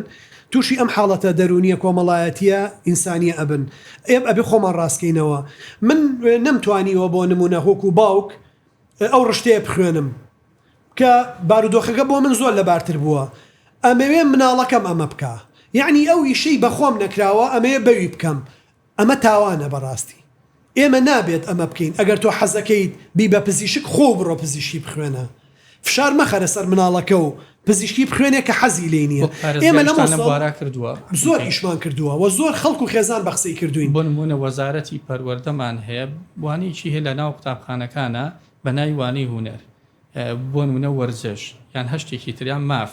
توشی ئەم حاڵەتە دەرونیە کۆمەڵایەتیە ئینسانیە ئەبن ئێم ئەبێ خۆمان ڕاست کەینەوە من نەم توانیوە بۆ نمونە وەکو باوک ئەو ڕشتەیە بخوێنم کە بارودۆخەکە بۆ من زۆر لەبارتر بووە ئەمەوێ مناڵەکەم ئەمە بکا یەعنی ئەو ئیشەی بە خۆم نەکراوە ئەمەوێ بەوی بکەم ئەمە تاوانە بەڕاستی ئێمە نابێت ئەمە بکەین ئەگەر تۆ حەزەکەیت بی بە پزیشک خۆو بڕۆ پزیشکی بخوێنە فشار مەخەرە سەر مناڵەکە و پزیشکی بخوێنێ کە حەزی لێی نیە وەک ئێمە لە پارێزگاریشتان لەم مۆسڵ بوارە کردووە زۆر ئیشمان کردووە وە زۆر خەڵک و خێزان بە قسەی کردووین. بۆ نموونە وەزارەتی پەروەردەمان هەیە وانەیەکی هەیە لە ناو قوتابخانەکانا بە ناوی وانەی هونەر بۆ نموونە وەرزش یان هەشتێکی تر یان ماف،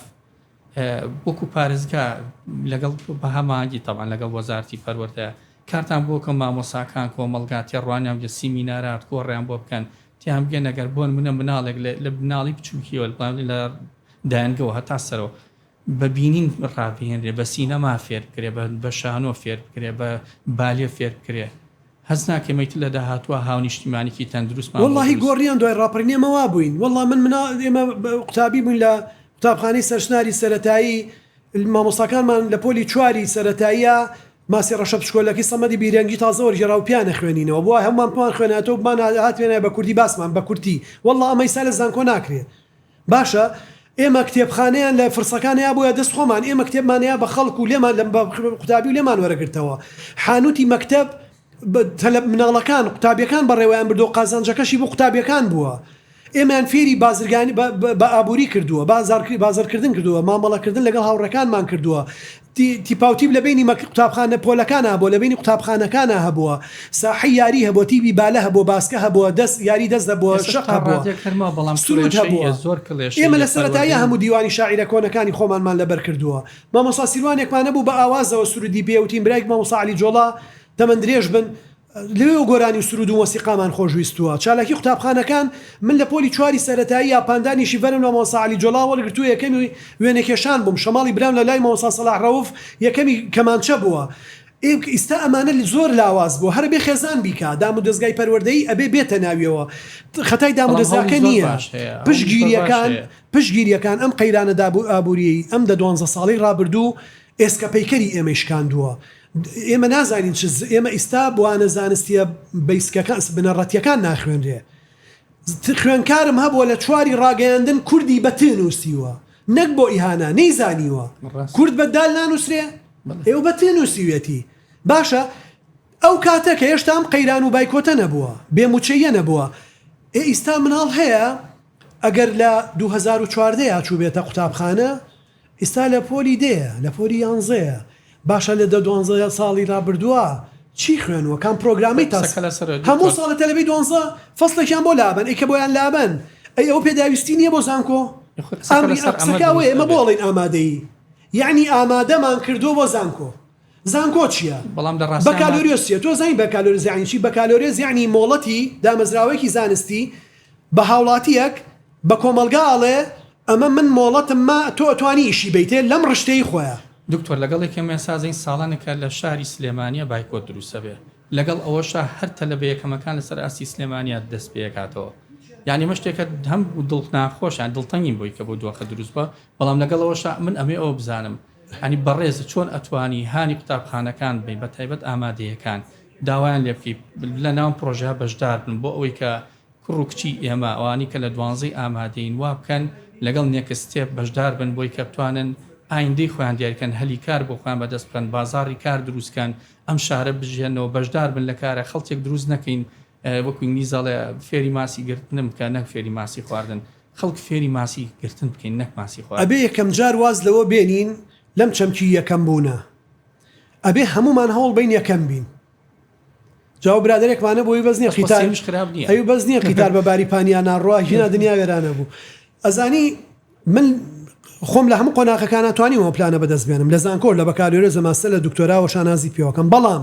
وەکو پارێزگا لەگەڵ بە هەماهەنگی تەبعەن لەگەڵ وەزارەتی پەروەردە کارتان بۆ بکەم مامۆساکان کۆمەڵگا تێڕوانیان بکەن سیمینارات کۆڕیان بۆ بکەن تیان بگەن ئەگەر بۆنمونە مناڵێک لە لە مناڵی بچوکیەوە لە دایەنگەوە هەتا سەرەوە بە بینین ڕابهێنرێ بە سینەما فێر بکرێ بە شانۆ فێر بکرێ بە بالێ فێر بکرێ هەست ناکەی میت لە داهاتوا هاونیشتیمانیکی تەندروستمان بۆ دروست. وەڵاهی گۆڕیان دوای ڕاپەڕینێمە وابووین وەڵا من منا ئێمە قوتابی بووین لە قوتابخانەی سەرشناری سەرەتایی مامۆستاکانمان لە پۆلی چواری سەرەتاییا ماسی ڕەشە پشکۆلەکەی سەمەدی بیرەنگی تازە وەرگێرا و پیانە خوێنینەوە بۆ هەموومان پمان خوێنایەتەوە بمان هاتوێنایە بە کوردی باسمان بە کورتی وەڵا ئەمە ئیستا لە زانکۆ ناکرێ باشە ئێمە کتێبخانەیان لە فرسەکان هەیابووە دەست خۆمان ئێمە کتێبمان هەیە بە خەڵک و لێمان لە قوتابی و لێمان وەرەگرتەوە حانوتی مەکتەب تەلە مناڵەکان قوتابیەکان بەڕێوەیان بردو قازانجەکەشی بۆ قوتابیەکان بووە ئێمەیان فێری بازرگانی بە ئابووری کردووە بازار بازرکردن کردووە مامەڵەکردن لەگەڵ هاوڕێکانمان کردووە تیپاوتیپ لە بەینی مەک قوتابخانە پۆلەکان هەبووە لە بەینی قوتابخانەکانا هەبووە ساحەی یاری هەبووە تیبی بالە هەبووە باسکە هەبووە دەس یاری دەس هەبووە شەق هەبووە سروود هەبووە ئێمە لە سەرەتاییە هەموو دیوانی شاعیرە کۆنەکانی خۆمانمان لەبەر کردووە مامۆستا سیروانێکمان هەبوو بە ئاوازەوە سروودی پێ وتین برای مامۆستا عەلی جۆڵا تەمەن درێژ بن لەوێوە گۆرانی و سروود و مۆسیقامان خۆش ویستووە. چالاکی قوتابخانەکان، من لە پۆلی چواری سەرەتایی یا پاندانیشی بەرم لە مامۆستا عەلی جۆڵا وەرگرتووە یەکەمی وێنەکێشان بووم، شەماڵی برام لە لای مامۆستا سەلاح ڕەوف یەکەمی کەمانچە بووە. ئیستا ئەمانە زۆر لاواز بووە هەرەبێ خێزان بیکا دام و دەزگای پەروەردەیی ئەبێ بێتە ناویەوە خەتای دام و دەزگاکە نییە پشتگیریەکان پشتگیریەکان ئەم قەیرانە داب و ئابووریەی ئەم دە دوانزە ساڵەی ڕابردوو ئێسکەپەیکەری ئێمەی شکاندووە. ئێمە نازانین چ ز ئێمە ئیستا بوانە زانستیە بەیسکەکان س بنەڕەتیەکان ناخوێنرێ ز ت خوێنکارم هەبووە لە چواری ڕاگەیاندن کوردی بە ت نووسیوە نەک بۆ ئیهانە نەیزانیوە ڕاست کورد بە دال نانووسرێ بەڵێ ئێوە بە ت نووسیویەتی باشە ئەو کاتە کە هێشتا ئەم قەیران و بایکۆتە نەبووە بێ موچەییە نەبووە ئێ ئیستا مناڵ هەیە ئەگەر لە دوو هەزار و چواردە یا چووبێتە قوتابخانە ئیستا لە پۆلی دەیە لە پۆلی یانزەیە باشە لە دە دوانزە ساڵی رابردوە چی خوێنوە کام پرۆگرامی تا هەموو ساڵە تەلەبەی دوانزە فەسڵێکیان بۆ لابەن ئەی کە بۆیان لابەن ئەی ئەوە پێداویستی نیە بۆ زانکۆ ئەمری قسەکە ئەوەیە ئێمە بۆڵێن ئامادەی یەعنی ئامادەمان کردوە بۆ زانکۆ زانکۆ چیە بەڵام لە ڕاستیا ماف. بەکالۆریۆس چیە تۆ زانی بەکالۆریۆس یانی چی بەکالۆریۆس یانی مۆڵەتی دامەزراوەیەکی زانستی بە هاوڵاتیەک بە کۆمەڵگا ئەڵێ ئەمە من مۆڵەتم ما تۆ ئەتوانی ئیشی بەیتێ لەم ڕشتەی خۆیا. دکتۆر لەگەڵ یەکێ مێسازەین ساڵانێکە لە شاری سلێمانیە بایکۆت دروستەبێ لەگەڵ ئەوەشا هەر تەلەبە یەکەمەکان لەسەر ئاستی سلێمانیە دەست پێکاتەوە یانی ئەمە شتێکە هەم دڵ ناخۆشە دڵتەنگین بۆی کە بۆ دۆخە دروستبوە بەڵام لەگەڵ ئەوەشا من ئەمێ ئەوە بزانم هانی بەڕێزت چۆن ئەتوانی هانی قوتابخانەکان بەی بەتایبەت ئامادەیەکان داوایان لێ بکەی لەناوم پڕۆژەیا بەشدار بن بۆ ئەوەی کە کوڕ و کچی ئێمە ئەوانی کە لە دوانزەی ئامادەین وا بکەن لەگەڵ نێکست ستێپ بەشدار بن بۆی کە بتوانن ئایندەی خۆیان دیاری بکەن هەلی کار بۆ خۆیان بەدەست بخەن بازاڕی کار دروست کەن ئەم شارە بژیهنەوە بەشدار بن لە کارە خەڵکێک دروست نەکەین وەکو ئینگلیز ئەڵێ فێری ماسی گرتنم بکە نەک فێری ماسی خواردن. خەڵک فێری ماسی گرتن بکەین نەک ماسی خواردن. ئەبێ یەکەم جار واز لەوە بێنین لەم چەمکی یەکەم بوونە ئەبێ هەموومان هەوڵ بەین یەکەم بین جاو برادەرێکمان هەبوو ئەوی بەس نییە قیتار سێویش خراپ نییە ئەوی بەس نییە قیتار بە باری پانیا ناڕوا هینا دنیا وێرانە بوو ئەزانی من خۆم لە هەموو قۆناغەکانە توانیمەوە پلانە بەدەست بێنم لە زانکۆ لە بەکالۆرێزە ماستەر لە دکتۆراوە شانازی پێوەکەم بەڵام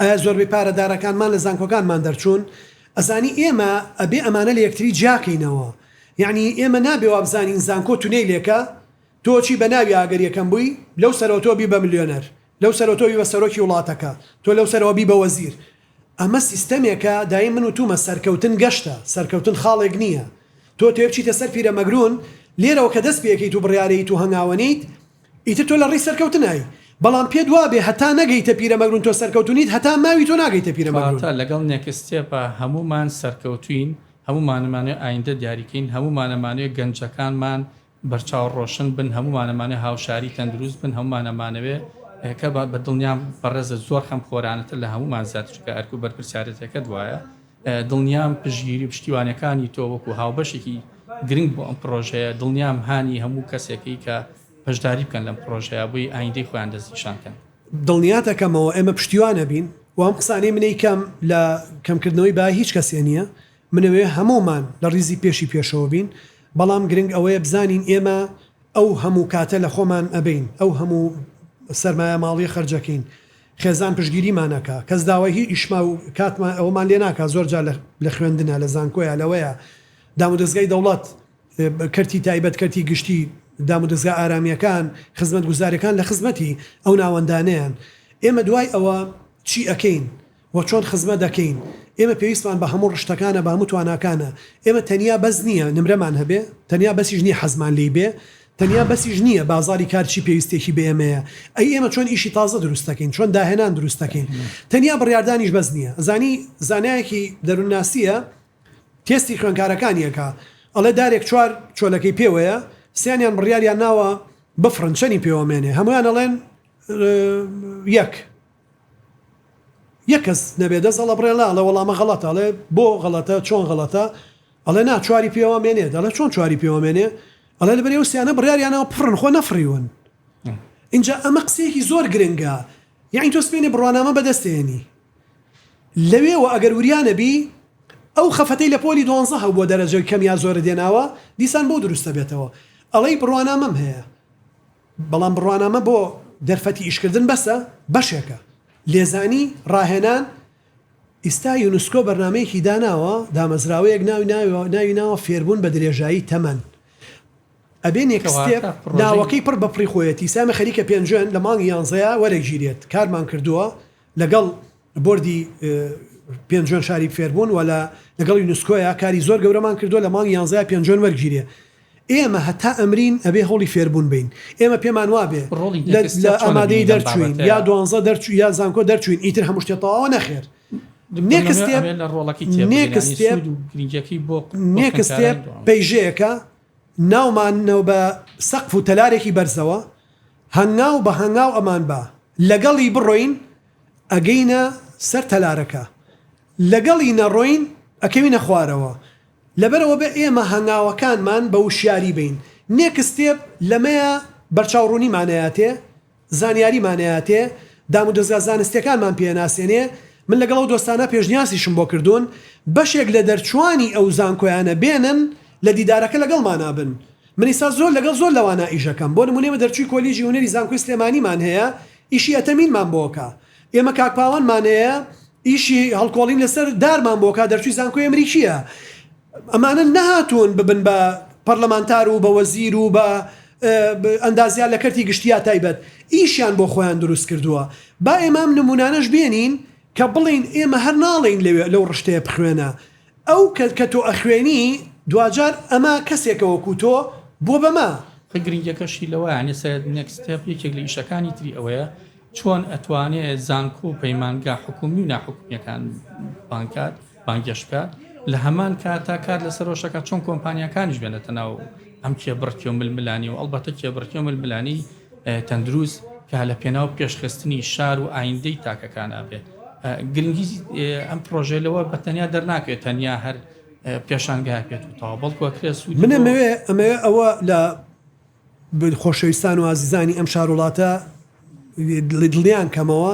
ئایا زۆربەی پارە دارەکانمان لە زانکۆکانمان دەرچوون ئەزانی ئێمە ئەبێ ئەمانە لە یەکتری جیاکەینەوە یەعنی ئێمە نابێ وابزانین زانکۆ تونێیلێکە تۆ چی بەناوی ئاگەر یەکەم بووی لەو سەرەوە تۆ بی بە ملیۆنەر لەو سەرەوە تۆ بی بە سەرۆکی وڵاتەکە تۆ لەو سەرەوە بی بە وەزیر ئەمە سیستەمێکە دایی من وتومە سەرکەوتن گەشتە سەرکەوتن خاڵێک نییە تۆ تێبچیتە سەر پیرەمەگرون لێرەوە کە دەست پێکەیت و بڕیارەیت و هەنگاوەنێیت ئیتر تۆ لە ڕێی سەرکەوتنای. بەڵام پێت وابێ هەتا نەگەیتە پیرەمەگرون تۆ سەرکەوتو نیت هەتا ماوی تۆ ناگەیتە پیرەمەگرون. کەواتە لەگەڵ نێکستێپا هەموومان سەرکەوتوین هەموومانەمانەوێ ئایندە دیاریکەین هەموومانەمانەوێ گەنجەکانمان بەرچاو ڕۆشن بن هەموومانەمانەوێ هاوشاری تەندروست بن هەموومانەمانەوێ کە بەدڵنیام بەڕێزت زۆر خەمخۆرانەتر لە هەموومان زیاتر چونکە ئەرک و بەرپرسیارێتیەکەت وایە دڵنیام پشتگیری و پشتیوانیەکانی تۆ وەکو هاوبەشێکی گرنگ بۆ ئەم پڕۆژەیە، دڵنیام هانی هەموو کەسێکەی کە بەشداری بکەن لەم پڕۆژەیە بۆی ئایندەی خۆیان دەستنیشان کەن. دڵنیات ئەکەمەوە ئێمە پشتیوان ئەبین و ئەم قسانەی منەی کەم لە کەم کردنەوەی بای هیچ کەسێ نیە، منەوێ هەموومان لە ڕیزی پێشی پێشەوە بین، بەڵام گرنگ ئەوەیە بزانین ئێمە ئەو هەموو کاتە لە خۆمان ئەبەین، ئەو هەموو سەرمایە ماڵیە خەرجەکەین، خێزان پشتگیریمان ئەکا کەس داوای هی ئیشما و کاتمان ئەوەمان لێ ناکا زۆر جار لە خوێندنا لە زانکۆیە لەوەیە دامودەزگای دەوڵەت کەرتی تایبەت کەرتی گشتی دامودەزگا ئارامیەکان خزمەت گوزارەکان لە خزمەتی ئەو ناوەندانەیەن ئێمە دوای ئەوە چی ئەکەین و چۆن خزمەت ئەکەین ئێمە پێویستمان بە هەموو ڕشتەکانە بە هەموو تواناکانە ئێمە تەنیا بەس نیە نمرەمان هەبێ تەنیا بەسیش نیە حەزمان لێی بێ تەنیا بەسیش نییە بازاری کار چی پێویستێکی بە ئێمەیە، ئەی ئێمە چۆن ئیشی تازە دروست دەکەین، چۆن داهێنان دروست دەکەین. تەنیا بڕیاردانیش بەس نییە. ئەزانی زانایەکی دەروونناسییە تێستی خوێنکارەکانی ئەکا، ئەڵێ دارێک چوار چۆلەکەی پێوەیە، سیانیان بڕیاریان ناوە بفڕن، چەنی پێوەمێنێ؟ هەموویان ئەڵێن یەک. یەک کەس نەبێ دەست ئەڵە بڕێ نا ئەڵێ وەڵامە غەڵەتە ئەڵێ بۆ غەڵەتە چۆن غەڵەتە ئەڵێ نا چواری پێوە مێنێ دەڵێ چۆن چواری پێوە مێنێ ئەڵێ لەبەر ئەو سیانە بڕیاریانەوە پڕن خۆ نەفڕیون ئینجا ئەمە قسەیەکی زۆر گرنگە یعنی تۆ سمێنێ بڕوانامە بەدەستێنی لەوێوە ئەگەر وریانەبی ئەو خەفەتەی لە پۆلی دوانزە هەبووە دەرەجەوی کەم یا زۆرە دێناوە دیسان بۆ دروستە بێتەوە ئەڵێی بڕوانامەم هەیە بەڵام بڕوانامە بۆ دەرفەتی ئیشکردن بەسە بەشێکە لێزانی ڕاهێنان، ئیستا یونسکۆ بەرنامەیەکی داناوە دامەزراوەیەک ناوی ناوی ناوە فێربوون بە درێژایی تەمەن ئەبێ نێکستێپ ناوەکەی پڕ بەپڕی خۆیەتی سامە خەریکە پێنجوێن لە مانگی یانزەیە وەرەگیرێت کارمان کردووە لەگەڵ بۆردی پێنجوێن شاری فێربوون و لە لەگەڵ یونسکۆیا کاری زۆر گەورەمان کردووە لە مانگی یانزەیا پێنجوێن وەرگیرێ ئێمە هەتا ئەمرین ئەبێ هەوڵی فێربوون بەین ئێمە پێمان وابێ ڕۆڵی لە نێکستێپ لە چۆنە ئامادەیی بینی لەم دەرچووین بابەتەیا؟ یا دوانزە دەرچوو یا زانکۆ دەرچووین ئیتر هەموو شتێ تەواوە نەخێر دکتۆر نێکس نەمر تێب- ئەبێ لە ڕۆڵەکەی تێبگەین نێکس یانی تێب- سوود و گرنگیەکەی بۆ بۆ نێکس خوێندکارانی تێب دوانزە. پەیژەیەکە ناوماننەوە بە سەقف و تەلارێکی بەرزەوە، هەنگاو بە هەنگاو ئەمان با لەگەڵی بڕۆین ئەگەینە سەر تەلارەکە، لەگەڵی نەڕۆین ئەکەوینە خوارەوە، لەبەرئەوە بێ ئێمە هەنگاوەکانمان بە وشیاری بەین نێکس ستێپ لەمەیە بەرچاوڕوونیمانەیاتێ. زانیاریمانەیاتێ دامودەزگا زانستیەکانمان پێناسێنێ، من لەگەڵ ئەو دۆستانە پێشنیاسیشم بۆ کردوون بەشێک لە دەرچوانی ئەو زانکۆیانە بێنن لە دیدارەکە لەگەڵمانا بن، من ئیستا زۆر لەگەڵ زۆر لەوانا ئیشەکەم بۆ نمونە ئێمە دەرچوی کۆلیجی هونەری زانکۆی سلێمانیمان هەیە ئیشی ئەتەمینمان بۆکا، ئێمە کاک پاوانمان هەیە ئیشی هەڵکۆڵین لەسەر دارمان بۆکا دەرچوی زانکۆی ئەمریکیە، ئەمانە نەهاتوون ببن بە پەرلەمانتار و بە وەزیر و بە ئەندازیار لە کەرتی گشتی یا تایبەت، ئیشیان بۆ خۆیان دروست کردووە. با ئێمە ئەم نموونانەش بێنین کە بڵێین ئێمە هەر ناڵێین لەوێ لەو ڕشتەیە بخوێنە. ئەو کە کە تۆ ئەخوێنی دواجار ئەمە کەسێکە وەکوو تۆ بووە بە مە. خە گرنگیەکەشی لەوەیە، یانێ سەرەت، Next Step، یەکێک لە ئیشەکانی تری ئەوەیە چۆن ئەتوانێ زانکۆ و پەیمانگا حکومی و ناحکومیەکان بانکات بانگێش بکات لە هەمان کاتا کار لەسەرۆشەکە چۆن کۆمپانیەکانیش بێنێتە ناو ئەم کێ بڕکی و ململانی و ئەڵبەتە کێ بڕکی و ململانی تەندروست کە لە پێناو پێشخستنی شار و ئایندەی تاکەکان ئابێت گرنگی ئەم پرۆژێ لەوە بە تەنیا دەرناکرێت تەنیا هەر پێشانگای پێت و تاوا بەڵکوەکرێت منەمەوێ ئەمەوێ ئەوە لە خۆشەویستان و ئازیزانی ئەم شار وڵاتە دڵیان کەمەوە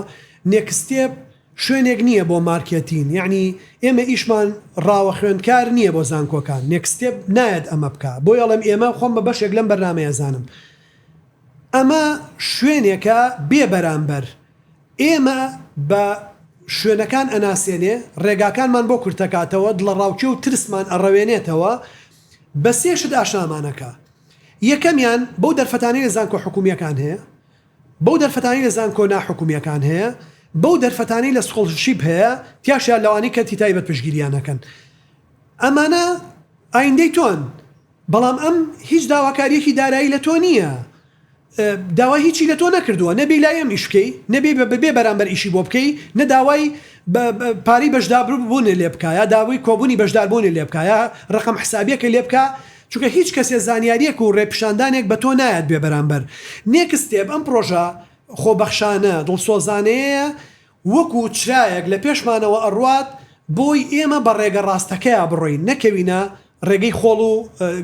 نێکستێپ شوێنێک نییە بۆ مارکێتین یعنی ئێمە ئیشمان ڕاوە خوێندکار نییە بۆ زانکۆکان نێکستێپ نایەت ئەمە بکە بۆ یاڵم ئێمە خۆم بە بەشێک لەم بەرنمەیەزانم ئەمە شوێنێکە بێ بەرامبەر ئێمە بە شوێنەکان ئەناسێنێ ڕێگاکانمان بۆ کورتەکاتەوە دڵە ڕاوکێ و ترسمان ئەڕەوێنێتەوە بە سێشت ئاشنامانەکە یەکەمیان بەو دەرفەتانەی لە زانکۆ حکوومییەکان هەیە، بەو دەرفەتانەی لە زانکۆ ناحکوومییەکان هەیە، بەو دەرفەتانەی لە سکۆڵرشیپ هەیە، تیاشیا لەوانەی کەرتی تایبەت پشتگیرییان ئەکەن. ئەمانە ئایندەی تۆن، بەڵام ئەم هیچ داواکارییەکی دارایی لە تۆ نییە. داوای هیچی لە تۆ نەکردووە، نە بێی لای ئێم ئیش بکەی، نە بێی بە بێ بەرامبەر ئیشی بۆ بکەی، نە داوای بە پارەی بەشداربوونێ لێ بکا یا داوای کۆبوونی بەشداربوونێ لێ بکا یا رەقەم حسابیەکەی لێ بکا چونکە هیچ کەسێ زانیاریەک و رێپیشاندانێک بە تۆ نایات بێ بەرامبەر نێکس ستێپ ئەم پرۆژە خۆبەخشانە دڵسۆزانەیەیە وەکو چرایەک لە پێشمانەوە ئەڕوات بۆی ئێمە بە ڕێگە ڕاستەکەیا بڕۆین نەکەوینە ڕێگەی خۆڵ و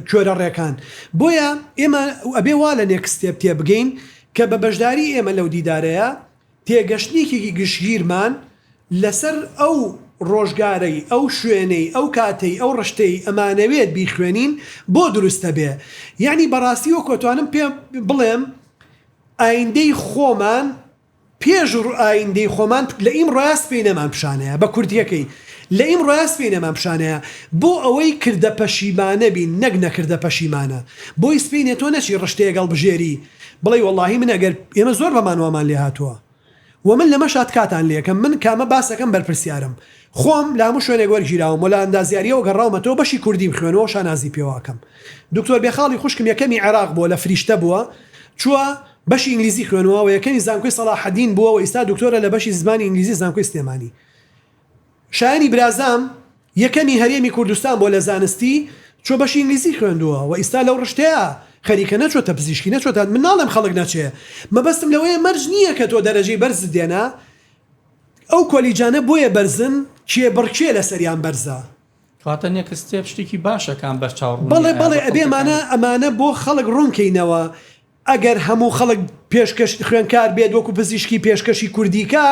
کوێرە ڕێکان بۆیە ئێمە ئەبێ وا لە نێکست ستێپ تێبگەین کە بە بەشداری ئێمە لەو دیدارەیە تێگەشتنیکێکی گشتگیرمان لەسەر ئەو ڕۆژگارەی ئەو شوێنەی ئەو کاتەی ئەو ڕشتەی ئەمانەوێت بیخوێنین بۆ دروستەبێ یەعنی بەڕاستی وەکو ئەتوانم پێ بڵێم ئایندەی خۆمان پێش ڕ ئایندەی خۆمان لە ئیمڕۆیا سپێی نەمان پیشانەیە بە کورتیەکەی لە ئیمڕۆیا سپێی نەمان پیشانەیە بۆ ئەوەی کردە پەشیمانە بین نەک نەکردە پەشیمانە بۆی سپێی نێ تۆ نەچی ڕشتەیەک هەڵبژێری بڵێی وەڵاهی من ئەگەر ئێمە زۆر بەمان وامان لێ هاتووە و من لەمەش ئاتکاتان لێ ئەکەم من کامە باسەکەم بەرپرسیارم خۆم لە هەموو شوێنێک وەرگیراوم و لە ئەندازیاریەوە گەڕاومەتەوە بەشی کوردیم خوێنوە شانازی پێوە ئەکەم دکتۆر بێخاڵی خوشکم یەکەمی عێراق بووە لە فریشتە بووە چووە بەشی ئینگلیزی خوێنوە و یەکەمی زانکۆی سەڵاحەدین بووە و ئیستا دکتۆرە لە بەشی زمانی ئینگلیزی زانکۆی سلێمانی شایەنی برازام یەکەمی هەرێمی کوردستان بووە لە زانستی چۆ بەشی ئینگلیزی خوێندووە و ئیستا لەو ڕشتەیا خەریکە نەچۆتە پزیشکی نەچۆتە من ناڵێم خەڵک نەچێ مەبەستم لەوەیە مەرج نییە کە تۆ دەرەجەی بەرزت دێنا ئەو کۆلیجانە بۆیە بەرزن کێبڕکێ لەسەریان بەرزە. کەواتە نێکست ستێپ شتێکی باشە کە ئەم بەرچاو ڕوونیە بەڵێ بەڵێ ئەبێ ئەمانە ئەمانە بۆ خەڵک ڕوون کەینەوە. ئەگەر هەموو خەڵک پێشکەش خوێندکار بێت وەکو پزیشکی پێشکەشی کوردی کا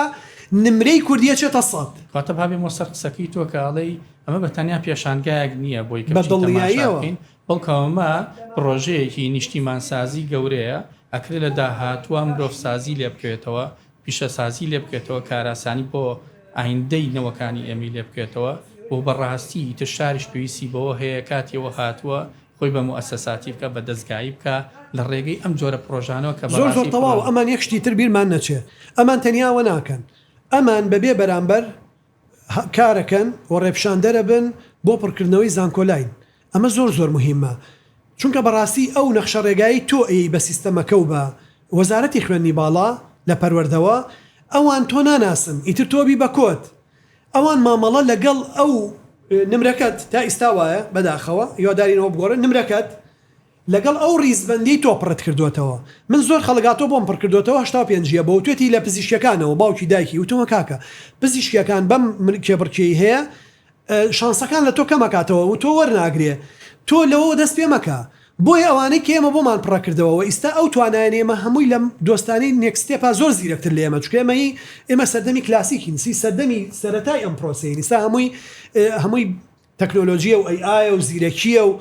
نمرەی کوردی ئەچێتە سەد. واتە با بێمەوە سەر قسەکەی تۆ کە ئەڵێی ئەمە بە تەنیا پێشانگایەک نییە بۆی کە بچین تەماشا بکەین بەڵکو ئەمە پڕۆژەیەکی نیشتیمانسازی گەورەیە ئەکرێ لە داهاتووە مرۆڤسازی لێ بکەوێتەوە پیشەسازی لێ بکرێتەوە کاراسانی بۆ ئایندەی نەوەکانی ئێمەی لێ بکرێتەوە و بەڕاستی ئیتر شاریش پێویستی بەوە هەیە کاتی ئەوە هاتووە خۆی بە موئەسەساتی بکا، بە دەزگایی بکا، لە ڕێگەی ئەم جۆرە پڕۆژانەوە کە بە ڕاستی پڕۆژە. زۆر زۆر تەواو، ئەمان یەک شتی تر بیرمان نەچێ، ئەمان تەنیا ئەوە ناکەن، ئەمان بە بێ بەرامبەر کارەکەن و ڕێپشاندەرە بن بۆ پڕکردنەوەی زانکۆلاین، ئەمە زۆر زۆر مهیمە، چونکە بە ڕاستی ئەو نەخشە ڕێگایەی تۆ ئەیەی بە سیستەمەکە و بە وەزارەتی خوێندنی باڵا لە پەروەردەوە، ئەوان تۆ ناناسن، ئیتر تۆ بی بە کۆد. ئەوان مامەڵە لەگەڵ ئەو نمرەکەت تا ئیستا وایە بەداخەوە هیوادارین ئەوە بگۆڕێت نمرەکەت لەگەڵ ئەو ڕیزبەندی تۆ پڕت کردۆتەوە من زۆر خەڵک هاتوە بۆم پڕ کردۆتەوە هەشتا و پێنج یە بۆ وتوێتی لە پزیشکیەکانەوە باوکی دایکی وتومە کاکە پزیشکیەکان بەم کێبڕکێی هەیە شانسەکان لە تۆ کەم ئەکاتەوە و تۆ وەرناگرێ تۆ لەوەوە دەست پێ مەکە بۆیە ئەوانەی کە ئێمە بۆمان پڕە کردەوە وە ئیستا ئەو توانایەن ئێمە هەمووی لە دۆستانی نێکست ستێپا زۆر زیرەک تر لە ئێمە چونکە ئێمە هی ئێمە سەردەمی کلاسیکین سی سەردەمی سەرەتای ئەم پرۆسەین ئیستا هەمووی هەمووی تەکنۆلۆجیە و ئەی ئایە و زیرەکیە و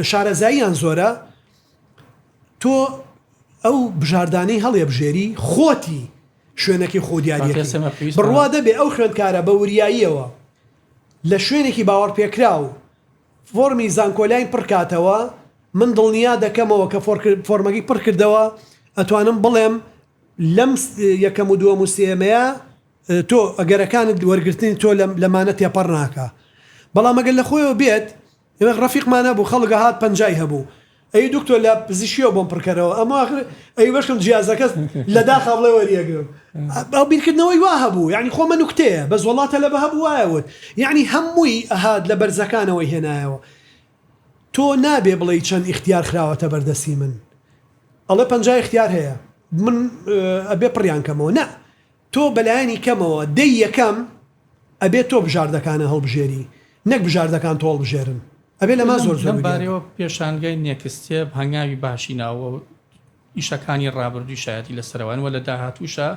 شارەزاییان زۆرە تۆ ئەو بژاردانەی هەڵێبژێری خۆتی شوێنەکەی خۆ دیاریەکەی بڕوا دەبێ ئەو خوێندکارە بە وریاییەوە لە شوێنێکی باوەڕپێکراو فۆرمی زانکۆلاین پڕ کاتەوە من دڵنیا دەکەمەوە کە فۆرمەکەی پڕ کردەوە ئەتوانم بڵێم لەم یەکەم و دووەم و سێمەیە تۆ ئەگەرەکانت وەرگرتنی تۆ لەمانە تێپەڕ ناکە بەڵام ئەگەر لە خۆیەوە بێت ڕفیقمانە بوو خەڵگە هات پەنجای هەبوو ئەی دکتۆر لە پزیشکیەوە بۆم پڕکەرەوە ئەمە ئاخر ئەی بەشکم جیازەکەت لە داخا بڵێ وەریەگرم ئەو بیرکردنەوەی وا هەبوو یعنی خۆمە نوکتەیە بەس وەڵا تەلەبە هەبوو وایە وت یعنی هەمووی ئەهات لە بەرزەکانەوەی هێنایەوە تۆ نابێ بڵێی چەند ئیختیار خراوەتە بەردەستی من ئەڵێ پەنجا ئیختیار هەیە من ئەبێ پڕیان کەمەوە نە تۆ بەلایەنی کەمەوە دەی یەکەم ئەبێت تۆ بژاردەکانە هەڵبژێری نەک بژاردەکان تۆ هەڵبژێرن ئەبێت لەمە زۆر زۆر لەم بارەیەوە پێشانگای نێکستێپ هەنگاوی باشی ناوەوە و ئیشەکانی ڕابردووی شایەتی لەسەروانی وە لە داهاتووشا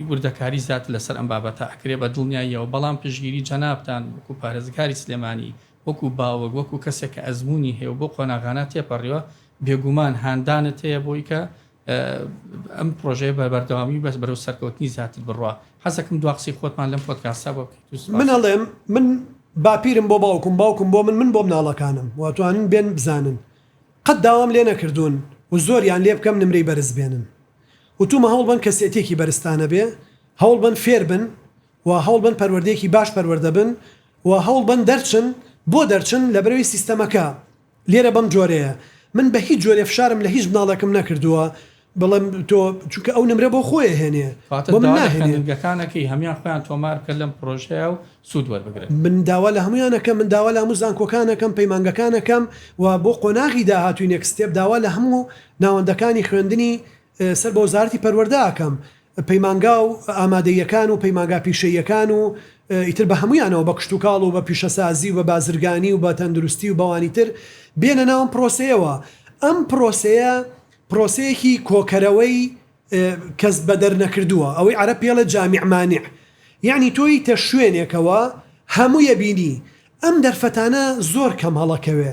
وردەکاری زیاتر لەسەر ئەم بابەتە ئەکرێ بە دڵنیاییەوە بەڵام پشتگیری جەنابتان وەکو پارێزگاری سلێمانی وەکو باوک وەکو کەسێک کە ئەزموونی هەیە و بەو قۆناغانە تێپەڕیوە بێگومان هاندانت هەیە بۆی کە ئەم پرۆژەیە بە بەردەوامی بەس بەرەو سەرکەوتنی زیاتر بڕوا حەزەکەم دوا قسەی خۆتمان لەم پۆتکاسا بۆ من هەڵێم من باپیرم بۆ باوکم باوکم بۆ من من بۆ مناڵەکانم واتوانن بێن بزانن قەت داوام لێ نەکردوون و زۆریان لێ بکەم نمرەی بەرز بێنن وتومە هەوڵ بن کەسێتێکی بەرزتانە بێ هەوڵ بن فێر بن و هەوڵ بن پەروەردەیەکی باش پەروەردە بن و هەوڵ بن دەرچن بۆ دەرچن لە بەرەوی سیستەمەکە لێرە بەم جۆرەیە من بە هیچ جۆرێ فشارم لە هیچ مناڵێکم نەکردووە بڵێم تۆ چونکە ئەو نمرە بۆ خۆی ئەهێنێ واتە بۆ من داوا لە ناهێنێ. خوێندنگەکانەکەی هەموان خۆیان تۆمار بکەن لەم پرۆژەیە و سوود وەربگرن. من داوا لە هەموان ئەکەم من داوا لە هەموو زانکۆکان ئەکەم پەیمانگەکان ئەکەم و بۆ قۆناغی داهاتووی نێکست ستێپ داوا لە هەموو ناوەندەکانی خوێندنی سەر بە وەزارەتی پەروەردە ئەکەم پەیمانگا و ئامادەییەکان و پەیمانگا پیشەییەکان و ئیتر بە هەموویانەوە بە کشتوکاڵ و بە پیشەسازی و بە بازرگانی و بە تەندروستی و بەوانی تر بێنە ناو ئەم پرۆسەیەوە ئەم پرۆسەیە پرۆسەیەکی کۆکەرەوەی کەس بەدەر نەکردووە ئەوەی عەرەب پێڵێ جامع مانع یەعنی تۆ یتە شوێنێکەوە هەمووی بینی ئەم دەرفەتانە زۆر کەم هەڵەکەوێ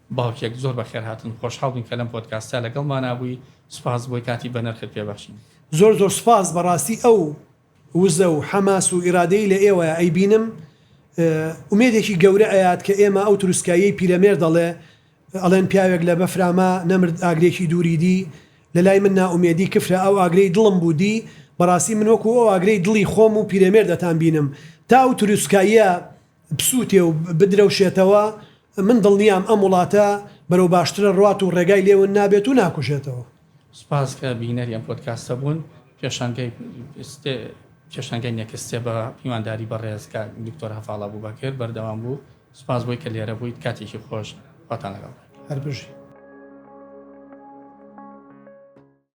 باوکێک زۆر بەخێرهاتن خۆشحاڵ بووین کە لەم پۆدکاستە لەگەڵمانا بووی سوپاس بۆی کاتی بەنرخت پێ بەخشین. زۆر زۆر سوپاس بەڕاستی ئەو وزە و حەماس و ئیرادەی لە ئێوە ئەیبینم ئومێدێکی گەورە ئەیات کە ئێمە ئەو تروسکاییەی پیرەمێرد دەڵێ ئەڵێن پیاوێک لە بەفراما نەمرد ئاگرێکی دووری دی لە لای من نائومێدی کفرە ئەو ئاگرەی دڵم بوو دی بەڕاستی من وەکو ئەو ئاگرەی دڵی خۆم و پیرەمێردتان بینم تا ئەو تروسکاییە بسوتێ و بدرەوشێتەوە، من دڵنیام ئەم وڵاتە بەرەو باشترە ڕوات و ڕێگای لێ ون نابێت و ناکوژێتەوە. سپاس کە بینەری ئەم پۆدکاستە بوون. پێشانگای پێشانگای نێکست ستێپ بە میوانداری بەڕێز کاک دکتۆر هەڤاڵ ئەبوبەکر بەردەوام بوو. سپاس بۆی کە لێرە بوویت. کاتێکی خۆش. خواتان لەگەڵ. هەر بژی.